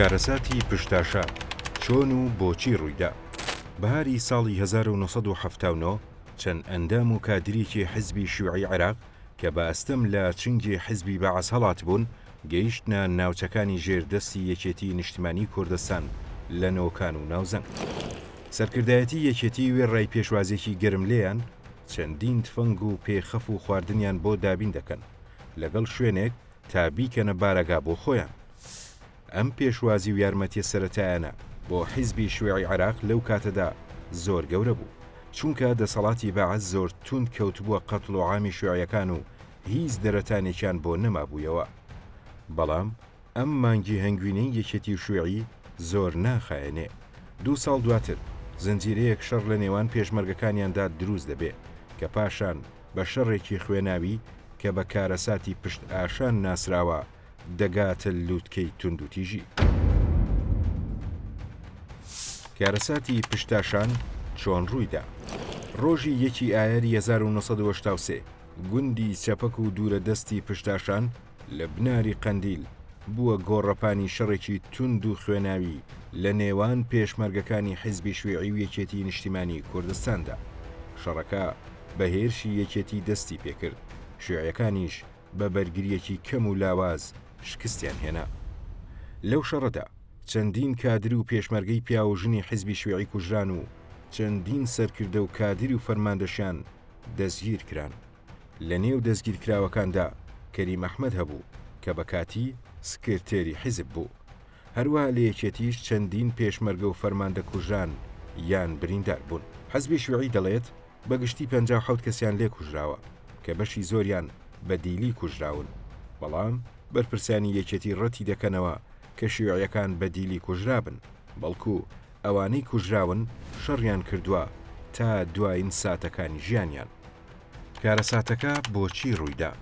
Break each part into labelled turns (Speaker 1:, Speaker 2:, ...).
Speaker 1: کارەساتی پشتاشا چۆن و بۆچی ڕوویدا بەهاری ساڵی 1970 چەند ئەندام و کادریکی حزبی شوعی عراق کە بە ئەستەم لە چنگی حیزبی بەعس هەڵاتبوون، گەیشتنە ناوچەکانی ژێر دەستی یەکێتیی نیشتمانیی کوردستان لە نۆکان و ناوزەنگ. سەرکردایەتیی یەکێتیی وێڕای پێشوازێکی گەرم لێیان، چەندین تفەنگ و پێ خەف و خواردنیان بۆ دابین دەکەن، لەگەڵ شوێنێک تا بیکەنە بارەگا بۆ خۆیان. ئەم پێشوازی و یارمەتیە سەرەتایانە بۆ حیزبی شیوعی عێراق لەو کاتەدا زۆر گەورە بوو، چونکە دەسەڵاتی بەعس زۆر توند کەوتبووە قەتڵ و عامی شیوعیەکان و هیچ دەرەتانێکیان بۆ نەمابوویەوە. بەڵام ئەم مانگی هەنگوینەی یەکێتی و شیوعی زۆر ناخایەنێ. دوو ساڵ دواتر زنجیرەیەک شەڕ لە نێوان پێشمەرگەکانیاندا دروست دەبێ، کە پاشان بە شەڕێکی خوێناوی کە بە کارەساتی پشت ئاشان ناسراوە، دەگاتە لوتکەی توندوتیژی. کارەساتی پشتاشان چۆن ڕوویدا؟ ڕۆژی یەکی ئایاری 1970 گوندی چەپەک و دوورە دەستی پشتاشان لە بناری قەندیل بووە گۆڕەپانی شەڕێکی توند و خوێناوی لە نێوان پێشمەرگەکانی حیزبی شویعی و یەکێتی نیشتیمانی کوردستاندا. شەڕەکە بە هێرشی یەکێتی دەستی پێکرد، شویعەکانیش بە بەرگرییەکی کەم و لاواز شکستیان هێنا. لەو شەڕەدا چەندین کادر و پێشمەرگەی پیاو و ژنی حیزبی شیوعی کوژران و چەندین سەرکردە و کادیر و فەرماندەشیان دەستگیر کران. لە نێو دەستگیرکراوەکاندا کەریم ئەحمەد هەبوو کە بە کاتی سکرتێری حیزب بوو. هەروەها لە یەکێتیش چەندین پێشمەرگە و فەرماندە کوژران یان بریندار بوون. حیزبی شیوعی دەڵێت، بە گشتی پەنجا و حەوت کەسیان لێ کوژراوە کە بەشی زۆریان بە دیلی کوژراون، بەڵام بەرپرسانی یەکێتی ڕەتی دەکەنەوە کە شیوعیەکان بە دیلی کوژرابن، بەڵکو ئەوانەی کوژراون شەڕیان کردوە تا دواین ساتەکانی ژیانیان. کارەساتەکە بۆچی ڕویدا؟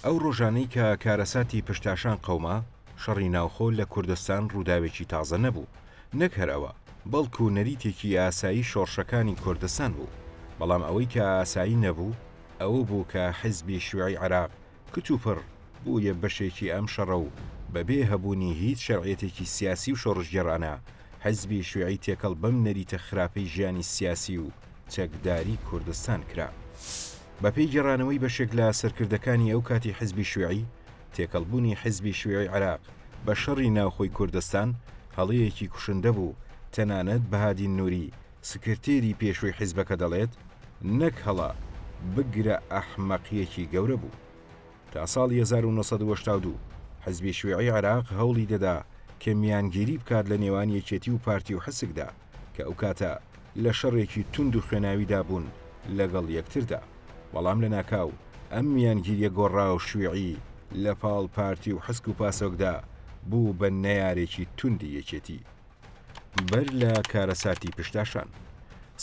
Speaker 1: ئەو ڕۆژانەی کە کارەساتی پشتاشان قەوما، شەڕی ناوخۆ لە کوردستان ڕووداوێکی تازە نەبوو، نەک هەر ئەوە، بەڵکو نەریتێکی ئاسایی شۆڕشەکانی کوردستان بوو، بەڵام ئەوەی کە ئاسایی نەبوو ئەوە بوو کە حیزبی شیوعی عێراق کتوپڕ بوویە بەشێکی ئەم شەڕە و بەبێ هەبوونی هیچ شەرعیەتێکی سیاسی و شۆڕشگێڕانە حیزبی شیوعی تێکەڵ بەم نەریتە خراپەی ژیانی سیاسی و چەکداری کوردستان کرا. بەپێی گێڕانەوەی بەشێک لە سەرکردەکانی ئەو کاتی حیزبی شیوعی تێکەڵبوونی حیزبی شیوعی عێراق بە شەڕی ناوخۆی کوردستان هەڵەیەکی کوشندە بوو، تەنانەت بەهادین نوری سکرتێری پێشووی حیزبەکە دەڵێت، نەک هەڵە، بگرە ئەحمەقیەکی گەورە بوو. تا ساڵی هەزار و نۆ سەد و هەشتا و دوو حیزبی شیوعی عێراق هەوڵی دەدا کە میانگیری بکات لە نێوان یەکێتی و پارتی و حسکدا، کە ئەو کاتە لە شەڕێکی توند و خوێناویدا بوون لەگەڵ یەکتردا، بەڵام لەناکاو ئەم میانگیریە گۆڕاو شویعی لە پاڵ پارتی و حسک و پاسۆکدا بوو بە نەیارێکی توندی یەکێتی. بەر لە کارەساتی پشتاشان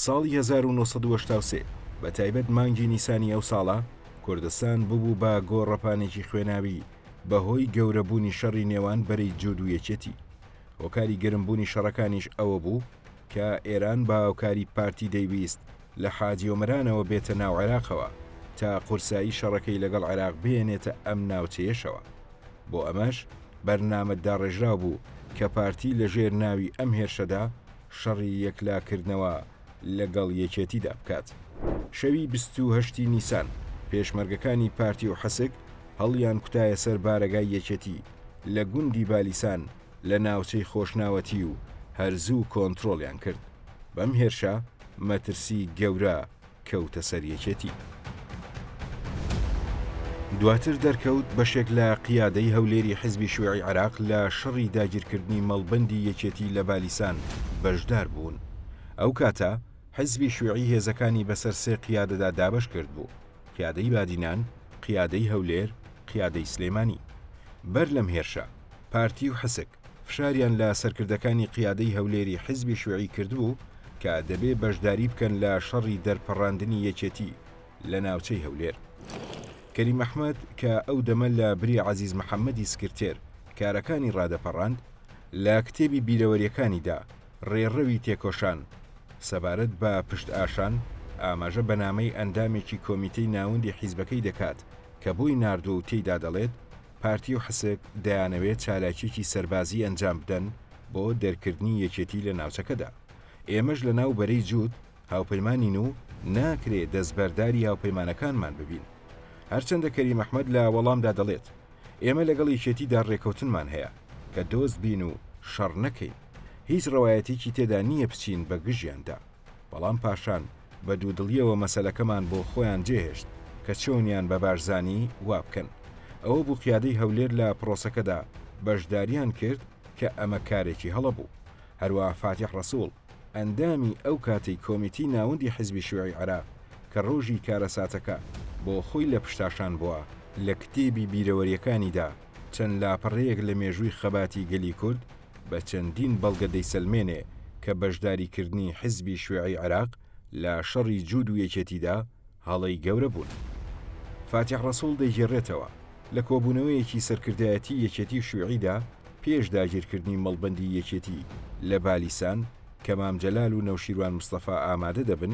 Speaker 1: ساڵی هەزار و نۆ سەد و هەشتا و سێ بە تایبەت مانگی نیسانی ئەو ساڵە کوردستان ببوو بە گۆڕەپانێکی خوێناوی بە هۆی گەورە بوونی شەڕی نێوان بەرەی جوود و یەکێتی هۆکاری گەرم بوونی شەڕەکانیش ئەوە بوو کە ئێران بە هاوکاری پارتی دەیویست لە حاجی ئۆمەرانەوە بێتە ناو عێراقەوە تا قورسایی شەڕەکەی لەگەڵ عێراق بهێنێتە ئەم ناوچەیەشەوە. بۆ ئەمەش بەرنامە داڕێژراو بوو کە پارتی لە ژێر ناوی ئەم هێرشەدا شەڕی یەکلا کردنەوە لە گەڵ یەکێتیدا بکات. شەوی بیست و هەشت ی نیسان پێشمەرگەکانی پارتی و حەسک هەڵیان کوتایە سەر بارەگای یەکێتی، لە گوندی بالیسان لە ناوچەی خۆشناوەتی و هەر زوو کۆنترۆڵیان کرد، بەم هێرشە مەترسی گەورە کەوتە سەر یەکێتی. دواتر دەرکەوت بەشێک لە قیادەی هەولێری حزبی شیوعی عێراق لە شەڕی داگیرکردنی مەڵبەندی یەکێتی لە بالیسان بەشدار بوون، ئەو کاتە حزبی شیوعی هێزەکانی بەسەر سێ قیادەدا دابەش کردبوو، قیادەی بادینان، قیادەی هەولێر، قیادەی سلێمانی. بەر لەم هێرشە، پارتی و حسک فشاریان لە سەرکردەکانی قیادەی هەولێری حیزبی شوعی کردبوو کە دەبێ بەشداری بکەن لە شەڕی دەرپەڕاندنی یەکێتی لە ناوچەی هەولێر. کەریم ئەحمەد کە ئەو دەمە لە بری عەزیز محەمەدی سکرتێر کارەکانی ڕادەپەڕاند، لە کتێبی بیرەوەرییەکانیدا، ڕێڕەوی تێکۆشان سەبارەت بە پشتئاشان ئاماژە بە نامەی ئەندامێکی کۆمیتەی ناوەندی حیزبەکەی دەکات کە بۆی ناردووە و تێیدا دەڵێت، پارتی و حسک دەیانەوێت چالاکییەکی سەربازی ئەنجام بدەن بۆ دەرکردنی یەکێتی لە ناوچەکەدا. ئێمەش لەناو بەرەی جووت هاوپەیمانین و ناکرێ دەستبەرداری هاوپەیمانەکانمان ببین. هەرچەندە کەریم ئەحمەد لە وەڵامدا دەڵێت، ئێمە لەگەڵ یەکێتیدا ڕێکەوتنمان هەیە کە دۆست بین و شەڕ نەکەین. هیچ ڕەوایەتیکی تێدا نییە بچین بە گژیاندا. بەڵام پاشان بە دوودڵیەوە مەسەلەکەمان بۆ خۆیان جێهێشت کە چۆنیان بە بارزانی وا بکەن. ئەوە بوو قیادەی هەولێر لە پرۆسەکەدا بەشداریان کرد کە ئەمە کارێکی هەڵە بوو. هەروا فاتیح ڕەسووڵ ئەندامی ئەو کاتەی کۆمیتی ناوەندی حیزبی شیوعی عێراق کە ڕۆژی کارەساتەکە بۆ خۆی لە پشتاشان بووە، لە کتێبی بیرەوەریەکانیدا چەند لاپەڕەیەک لە مێژووی خەباتی گەلی کورد، بە چەندین بەڵگە دەیسەلمێنێ کە بەشداریکردنی حزبی شوێعی عێراق لە شەڕی جوود و یەکێتیدا هەڵەی گەورە بوون. فاتیح ڕەسووڵ دەیگێڕێتەوە، لە کۆبوونەوەیەکی سەرکردایەتی یەکێتی و شوێعیدا پێش داگیرکردنی مەڵبەندی یەکێتی لە بالیسان کە مام جەلال و نەوشیروان مستەفا ئامادە دەبن،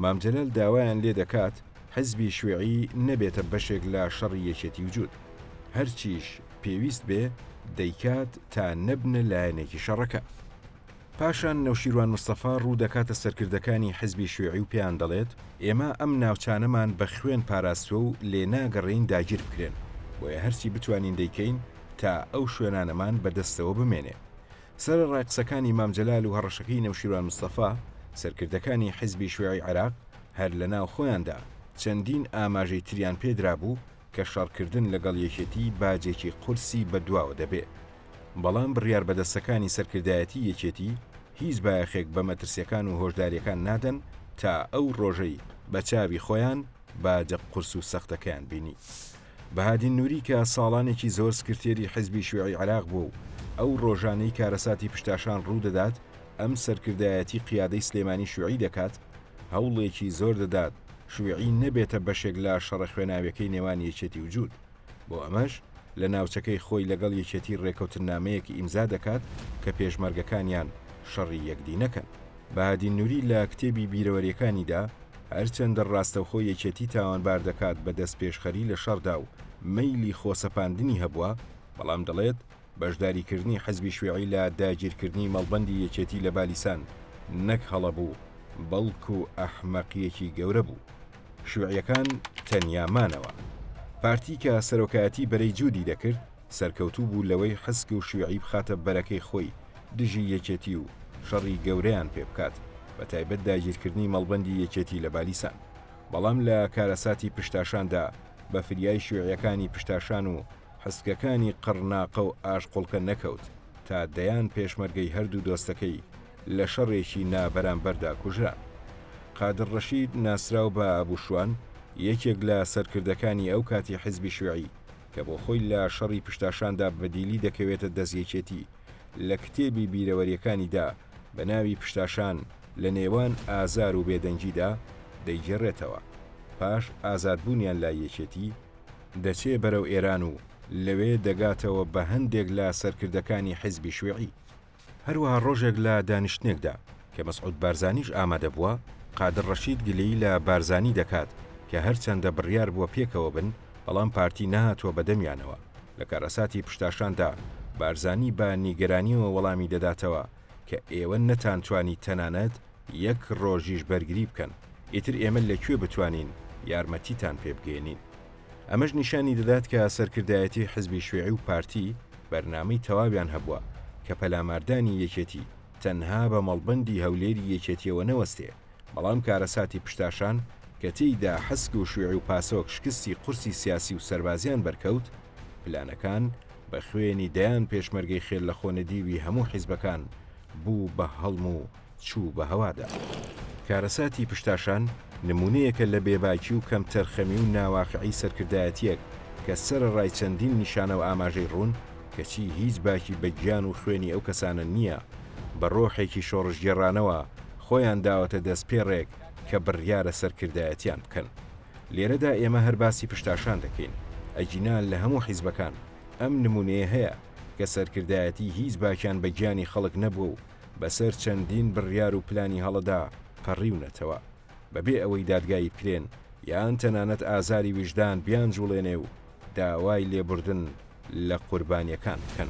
Speaker 1: مام جەلال داوایان لێ دەکات حزبی شوێعی نەبێتە بەشێک لە شەڕی یەکێتی و جوود. هەرچیش. پێویست بێ دەیکات تا نەبنە لایەنێکی شەڕەکە. پاشان نەوشیروان مستەفا ڕوو دەکاتە سەرکردەکانی حزبی شیوعی و پێیان دەڵێت، ئێمە ئەم ناوچانەمان بە خوێن پاراستوە و لێ ناگەڕێین داگیر بکرێن، بۆیە هەرچی بتوانین دەیکەین تا ئەو شوێنانەمان بە دەستەوە بمێنێ. سەرەڕای قسەکانی مام جەلال و هەڕەشەکەی نەوشیروان مستەفا، سەرکردەکانی حزبی شیوعی عێراق هەر لە ناو خۆیاندا چەندین ئاماژەی تریان پێ درابوو، کە شەڕکردن لەگەڵ یەکێتی باجێکی قورسی بەدواوە دەبێ. بەڵام بڕیار بەدەستەکانی سەرکردایەتی یەکێتی هیچ بایەخێک بە مەترسیەکان و هۆشداریەکان نادەن تا ئەو ڕۆژەی بە چاوی خۆیان باجە قورس و سەختەکەیان بینی. بەهادین نوری کە ساڵانێکی زۆر سکرتێری حزبی شیوعی عێراق بووە و ئەو ڕۆژانەی کارەساتی پشتاشان ڕوو دەدات ئەم سەرکردایەتی قیادەی سلێمانی شیوعی دەکات، هەوڵێکی زۆر دەدات شویعی نەبێتە بەشێک لە شەڕە خوێناویەکەی نێوان یەکێتی و جووت، بۆ ئەمەش لە ناوچەکەی خۆی لەگەڵ یەکێتی رێکەوتننامەیەک ئیمزا دەکات کە پێشمەرگەکانیان شەڕی یەکدی نەکەن. بەهادین نوری لە کتێبی بیرەوەریەکانیدا هەرچەندە راستەوخۆ یەکێتی تاوانبار دەکات بە دەستپێشخەری لە شەڕدا و مەیلی خۆسەپاندنی هەبووە، بەڵام دەڵێت، بەشداریکردنی حزبی شویعی لە داگیرکردنی مەڵبەندی یەکێتی لە بالیسان نەک هەڵە بوو، بەڵکو ئەحمەقیەکی گەورە بوو. شویعیەکان تەنیا مانەوە. پارتی کە سەرۆکایەتی بەرەی جودی دەکرد، سەرکەوتوو بوو لەوەی حسک و شویعی بخاتە بەرەکەی خۆی دژی یەکێتی و شەڕی گەورەیان پێ بکات، بە تایبەت داگیرکردنی مەڵبەندی یەکێتی لە بالیسان. بەڵام لە کارەساتی پشتاشاندا بە فریای شویعیەکانی پشتاشان و هەستگەکانی قەڕناقە و ئاشقوڵکە نەکەوت تا دەیان پێشمەرگەی هەردوو دۆستەکەی لە شەڕێکی نابەرامبەردا کوژران. قادر ڕەشید ناسراو بە ئەبو شوان، یەکێک لە سەرکردەکانی ئەو کاتی حیزبی شویعی کە بۆ خۆی لە شەڕی پشتاشاندا بەدیلی دەکەوێتە دەست یەکێتی، لە کتێبی بیرەوەریەکانیدا بە ناوی پشتاشان لە نێوان ئازار و بێدەنگیدا دەیگێڕێتەوە پاش ئازادبوونیان لای یەکێتی، دەچێ بەرەو ئێران و لەوێ دەگاتەوە بە هەندێک لە سەرکردەکانی حیزبی شوێعی. هەروەها ڕۆژێک لە دانیشتنێکدا کە مەسعود بارزانیش ئامادە بووە، قادر ڕەشید گلەیی لە بارزانی دەکات کە هەرچەندە بڕیار بووە پێکەوە بن، بەڵام پارتی نەهاتووە بە دەمیانەوە. لە کارەساتی پشتاشاندا بارزانی بە نیگەرانییەوە وەڵامی دەداتەوە کە ئێوە نەتانتوانی تەنانەت یەک ڕۆژیش بەرگری بکەن ئیتر ئێمە لە کوێ بتوانین یارمەتیتان پێ بگەیەنین. ئەمەش نیشانی دەدات کە سەرکردایەتی حزبی شوێعی و پارتی بەرنامەی تەواویان هەبووە کە پەلاماردانی یەکێتی تەنها بە مەڵبەندی هەولێری یەکێتیەوە نەوەستێ بەڵام کارەساتی پشتاشان کە تێیدا حسک و شوێعی و پاسۆک شکستی قورسی سیاسی و سەربازیان بەرکەوت پلانەکان بە خوێنی دەیان پێشمەرگەی خێر لە خۆ نەدیوی هەموو حزبەکان بوو بە هەڵم و چوو بە هەوادا. کارەساتی پشتاشان نموونەیەکە لە بێباکی و کەمتەرخەمی و ناواقعی سەرکردایەتییەک کە سەرەڕای چەندین نیشانە و ئاماژەی ڕوون کەچی هیچ باکی بە گیان و خوێنی ئەو کەسانە نییە بە ڕۆحێکی شۆڕشگێڕانەوە خۆیان داوەتە دەست پێڕێک کە بڕیارە سەرکردایەتیان بکەن. لێرەدا ئێمە هەر باسی پشتاشان دەکەین ئەگینا لە هەموو حیزبەکان ئەم نموونەیە هەیە کە سەرکردایەتی هیچ باکیان بە گیانی خەڵک نەبووە و بەسەر چەندین بڕیار و پلانی هەڵەدا پەڕیونەتەوە، بەبێ ئەوەی دادگایی بکرێن یان تەنانەت ئازاری ویژدان بیانجوڵێنێ و داوای لێبوردن لە قوربانییەکان بکەن.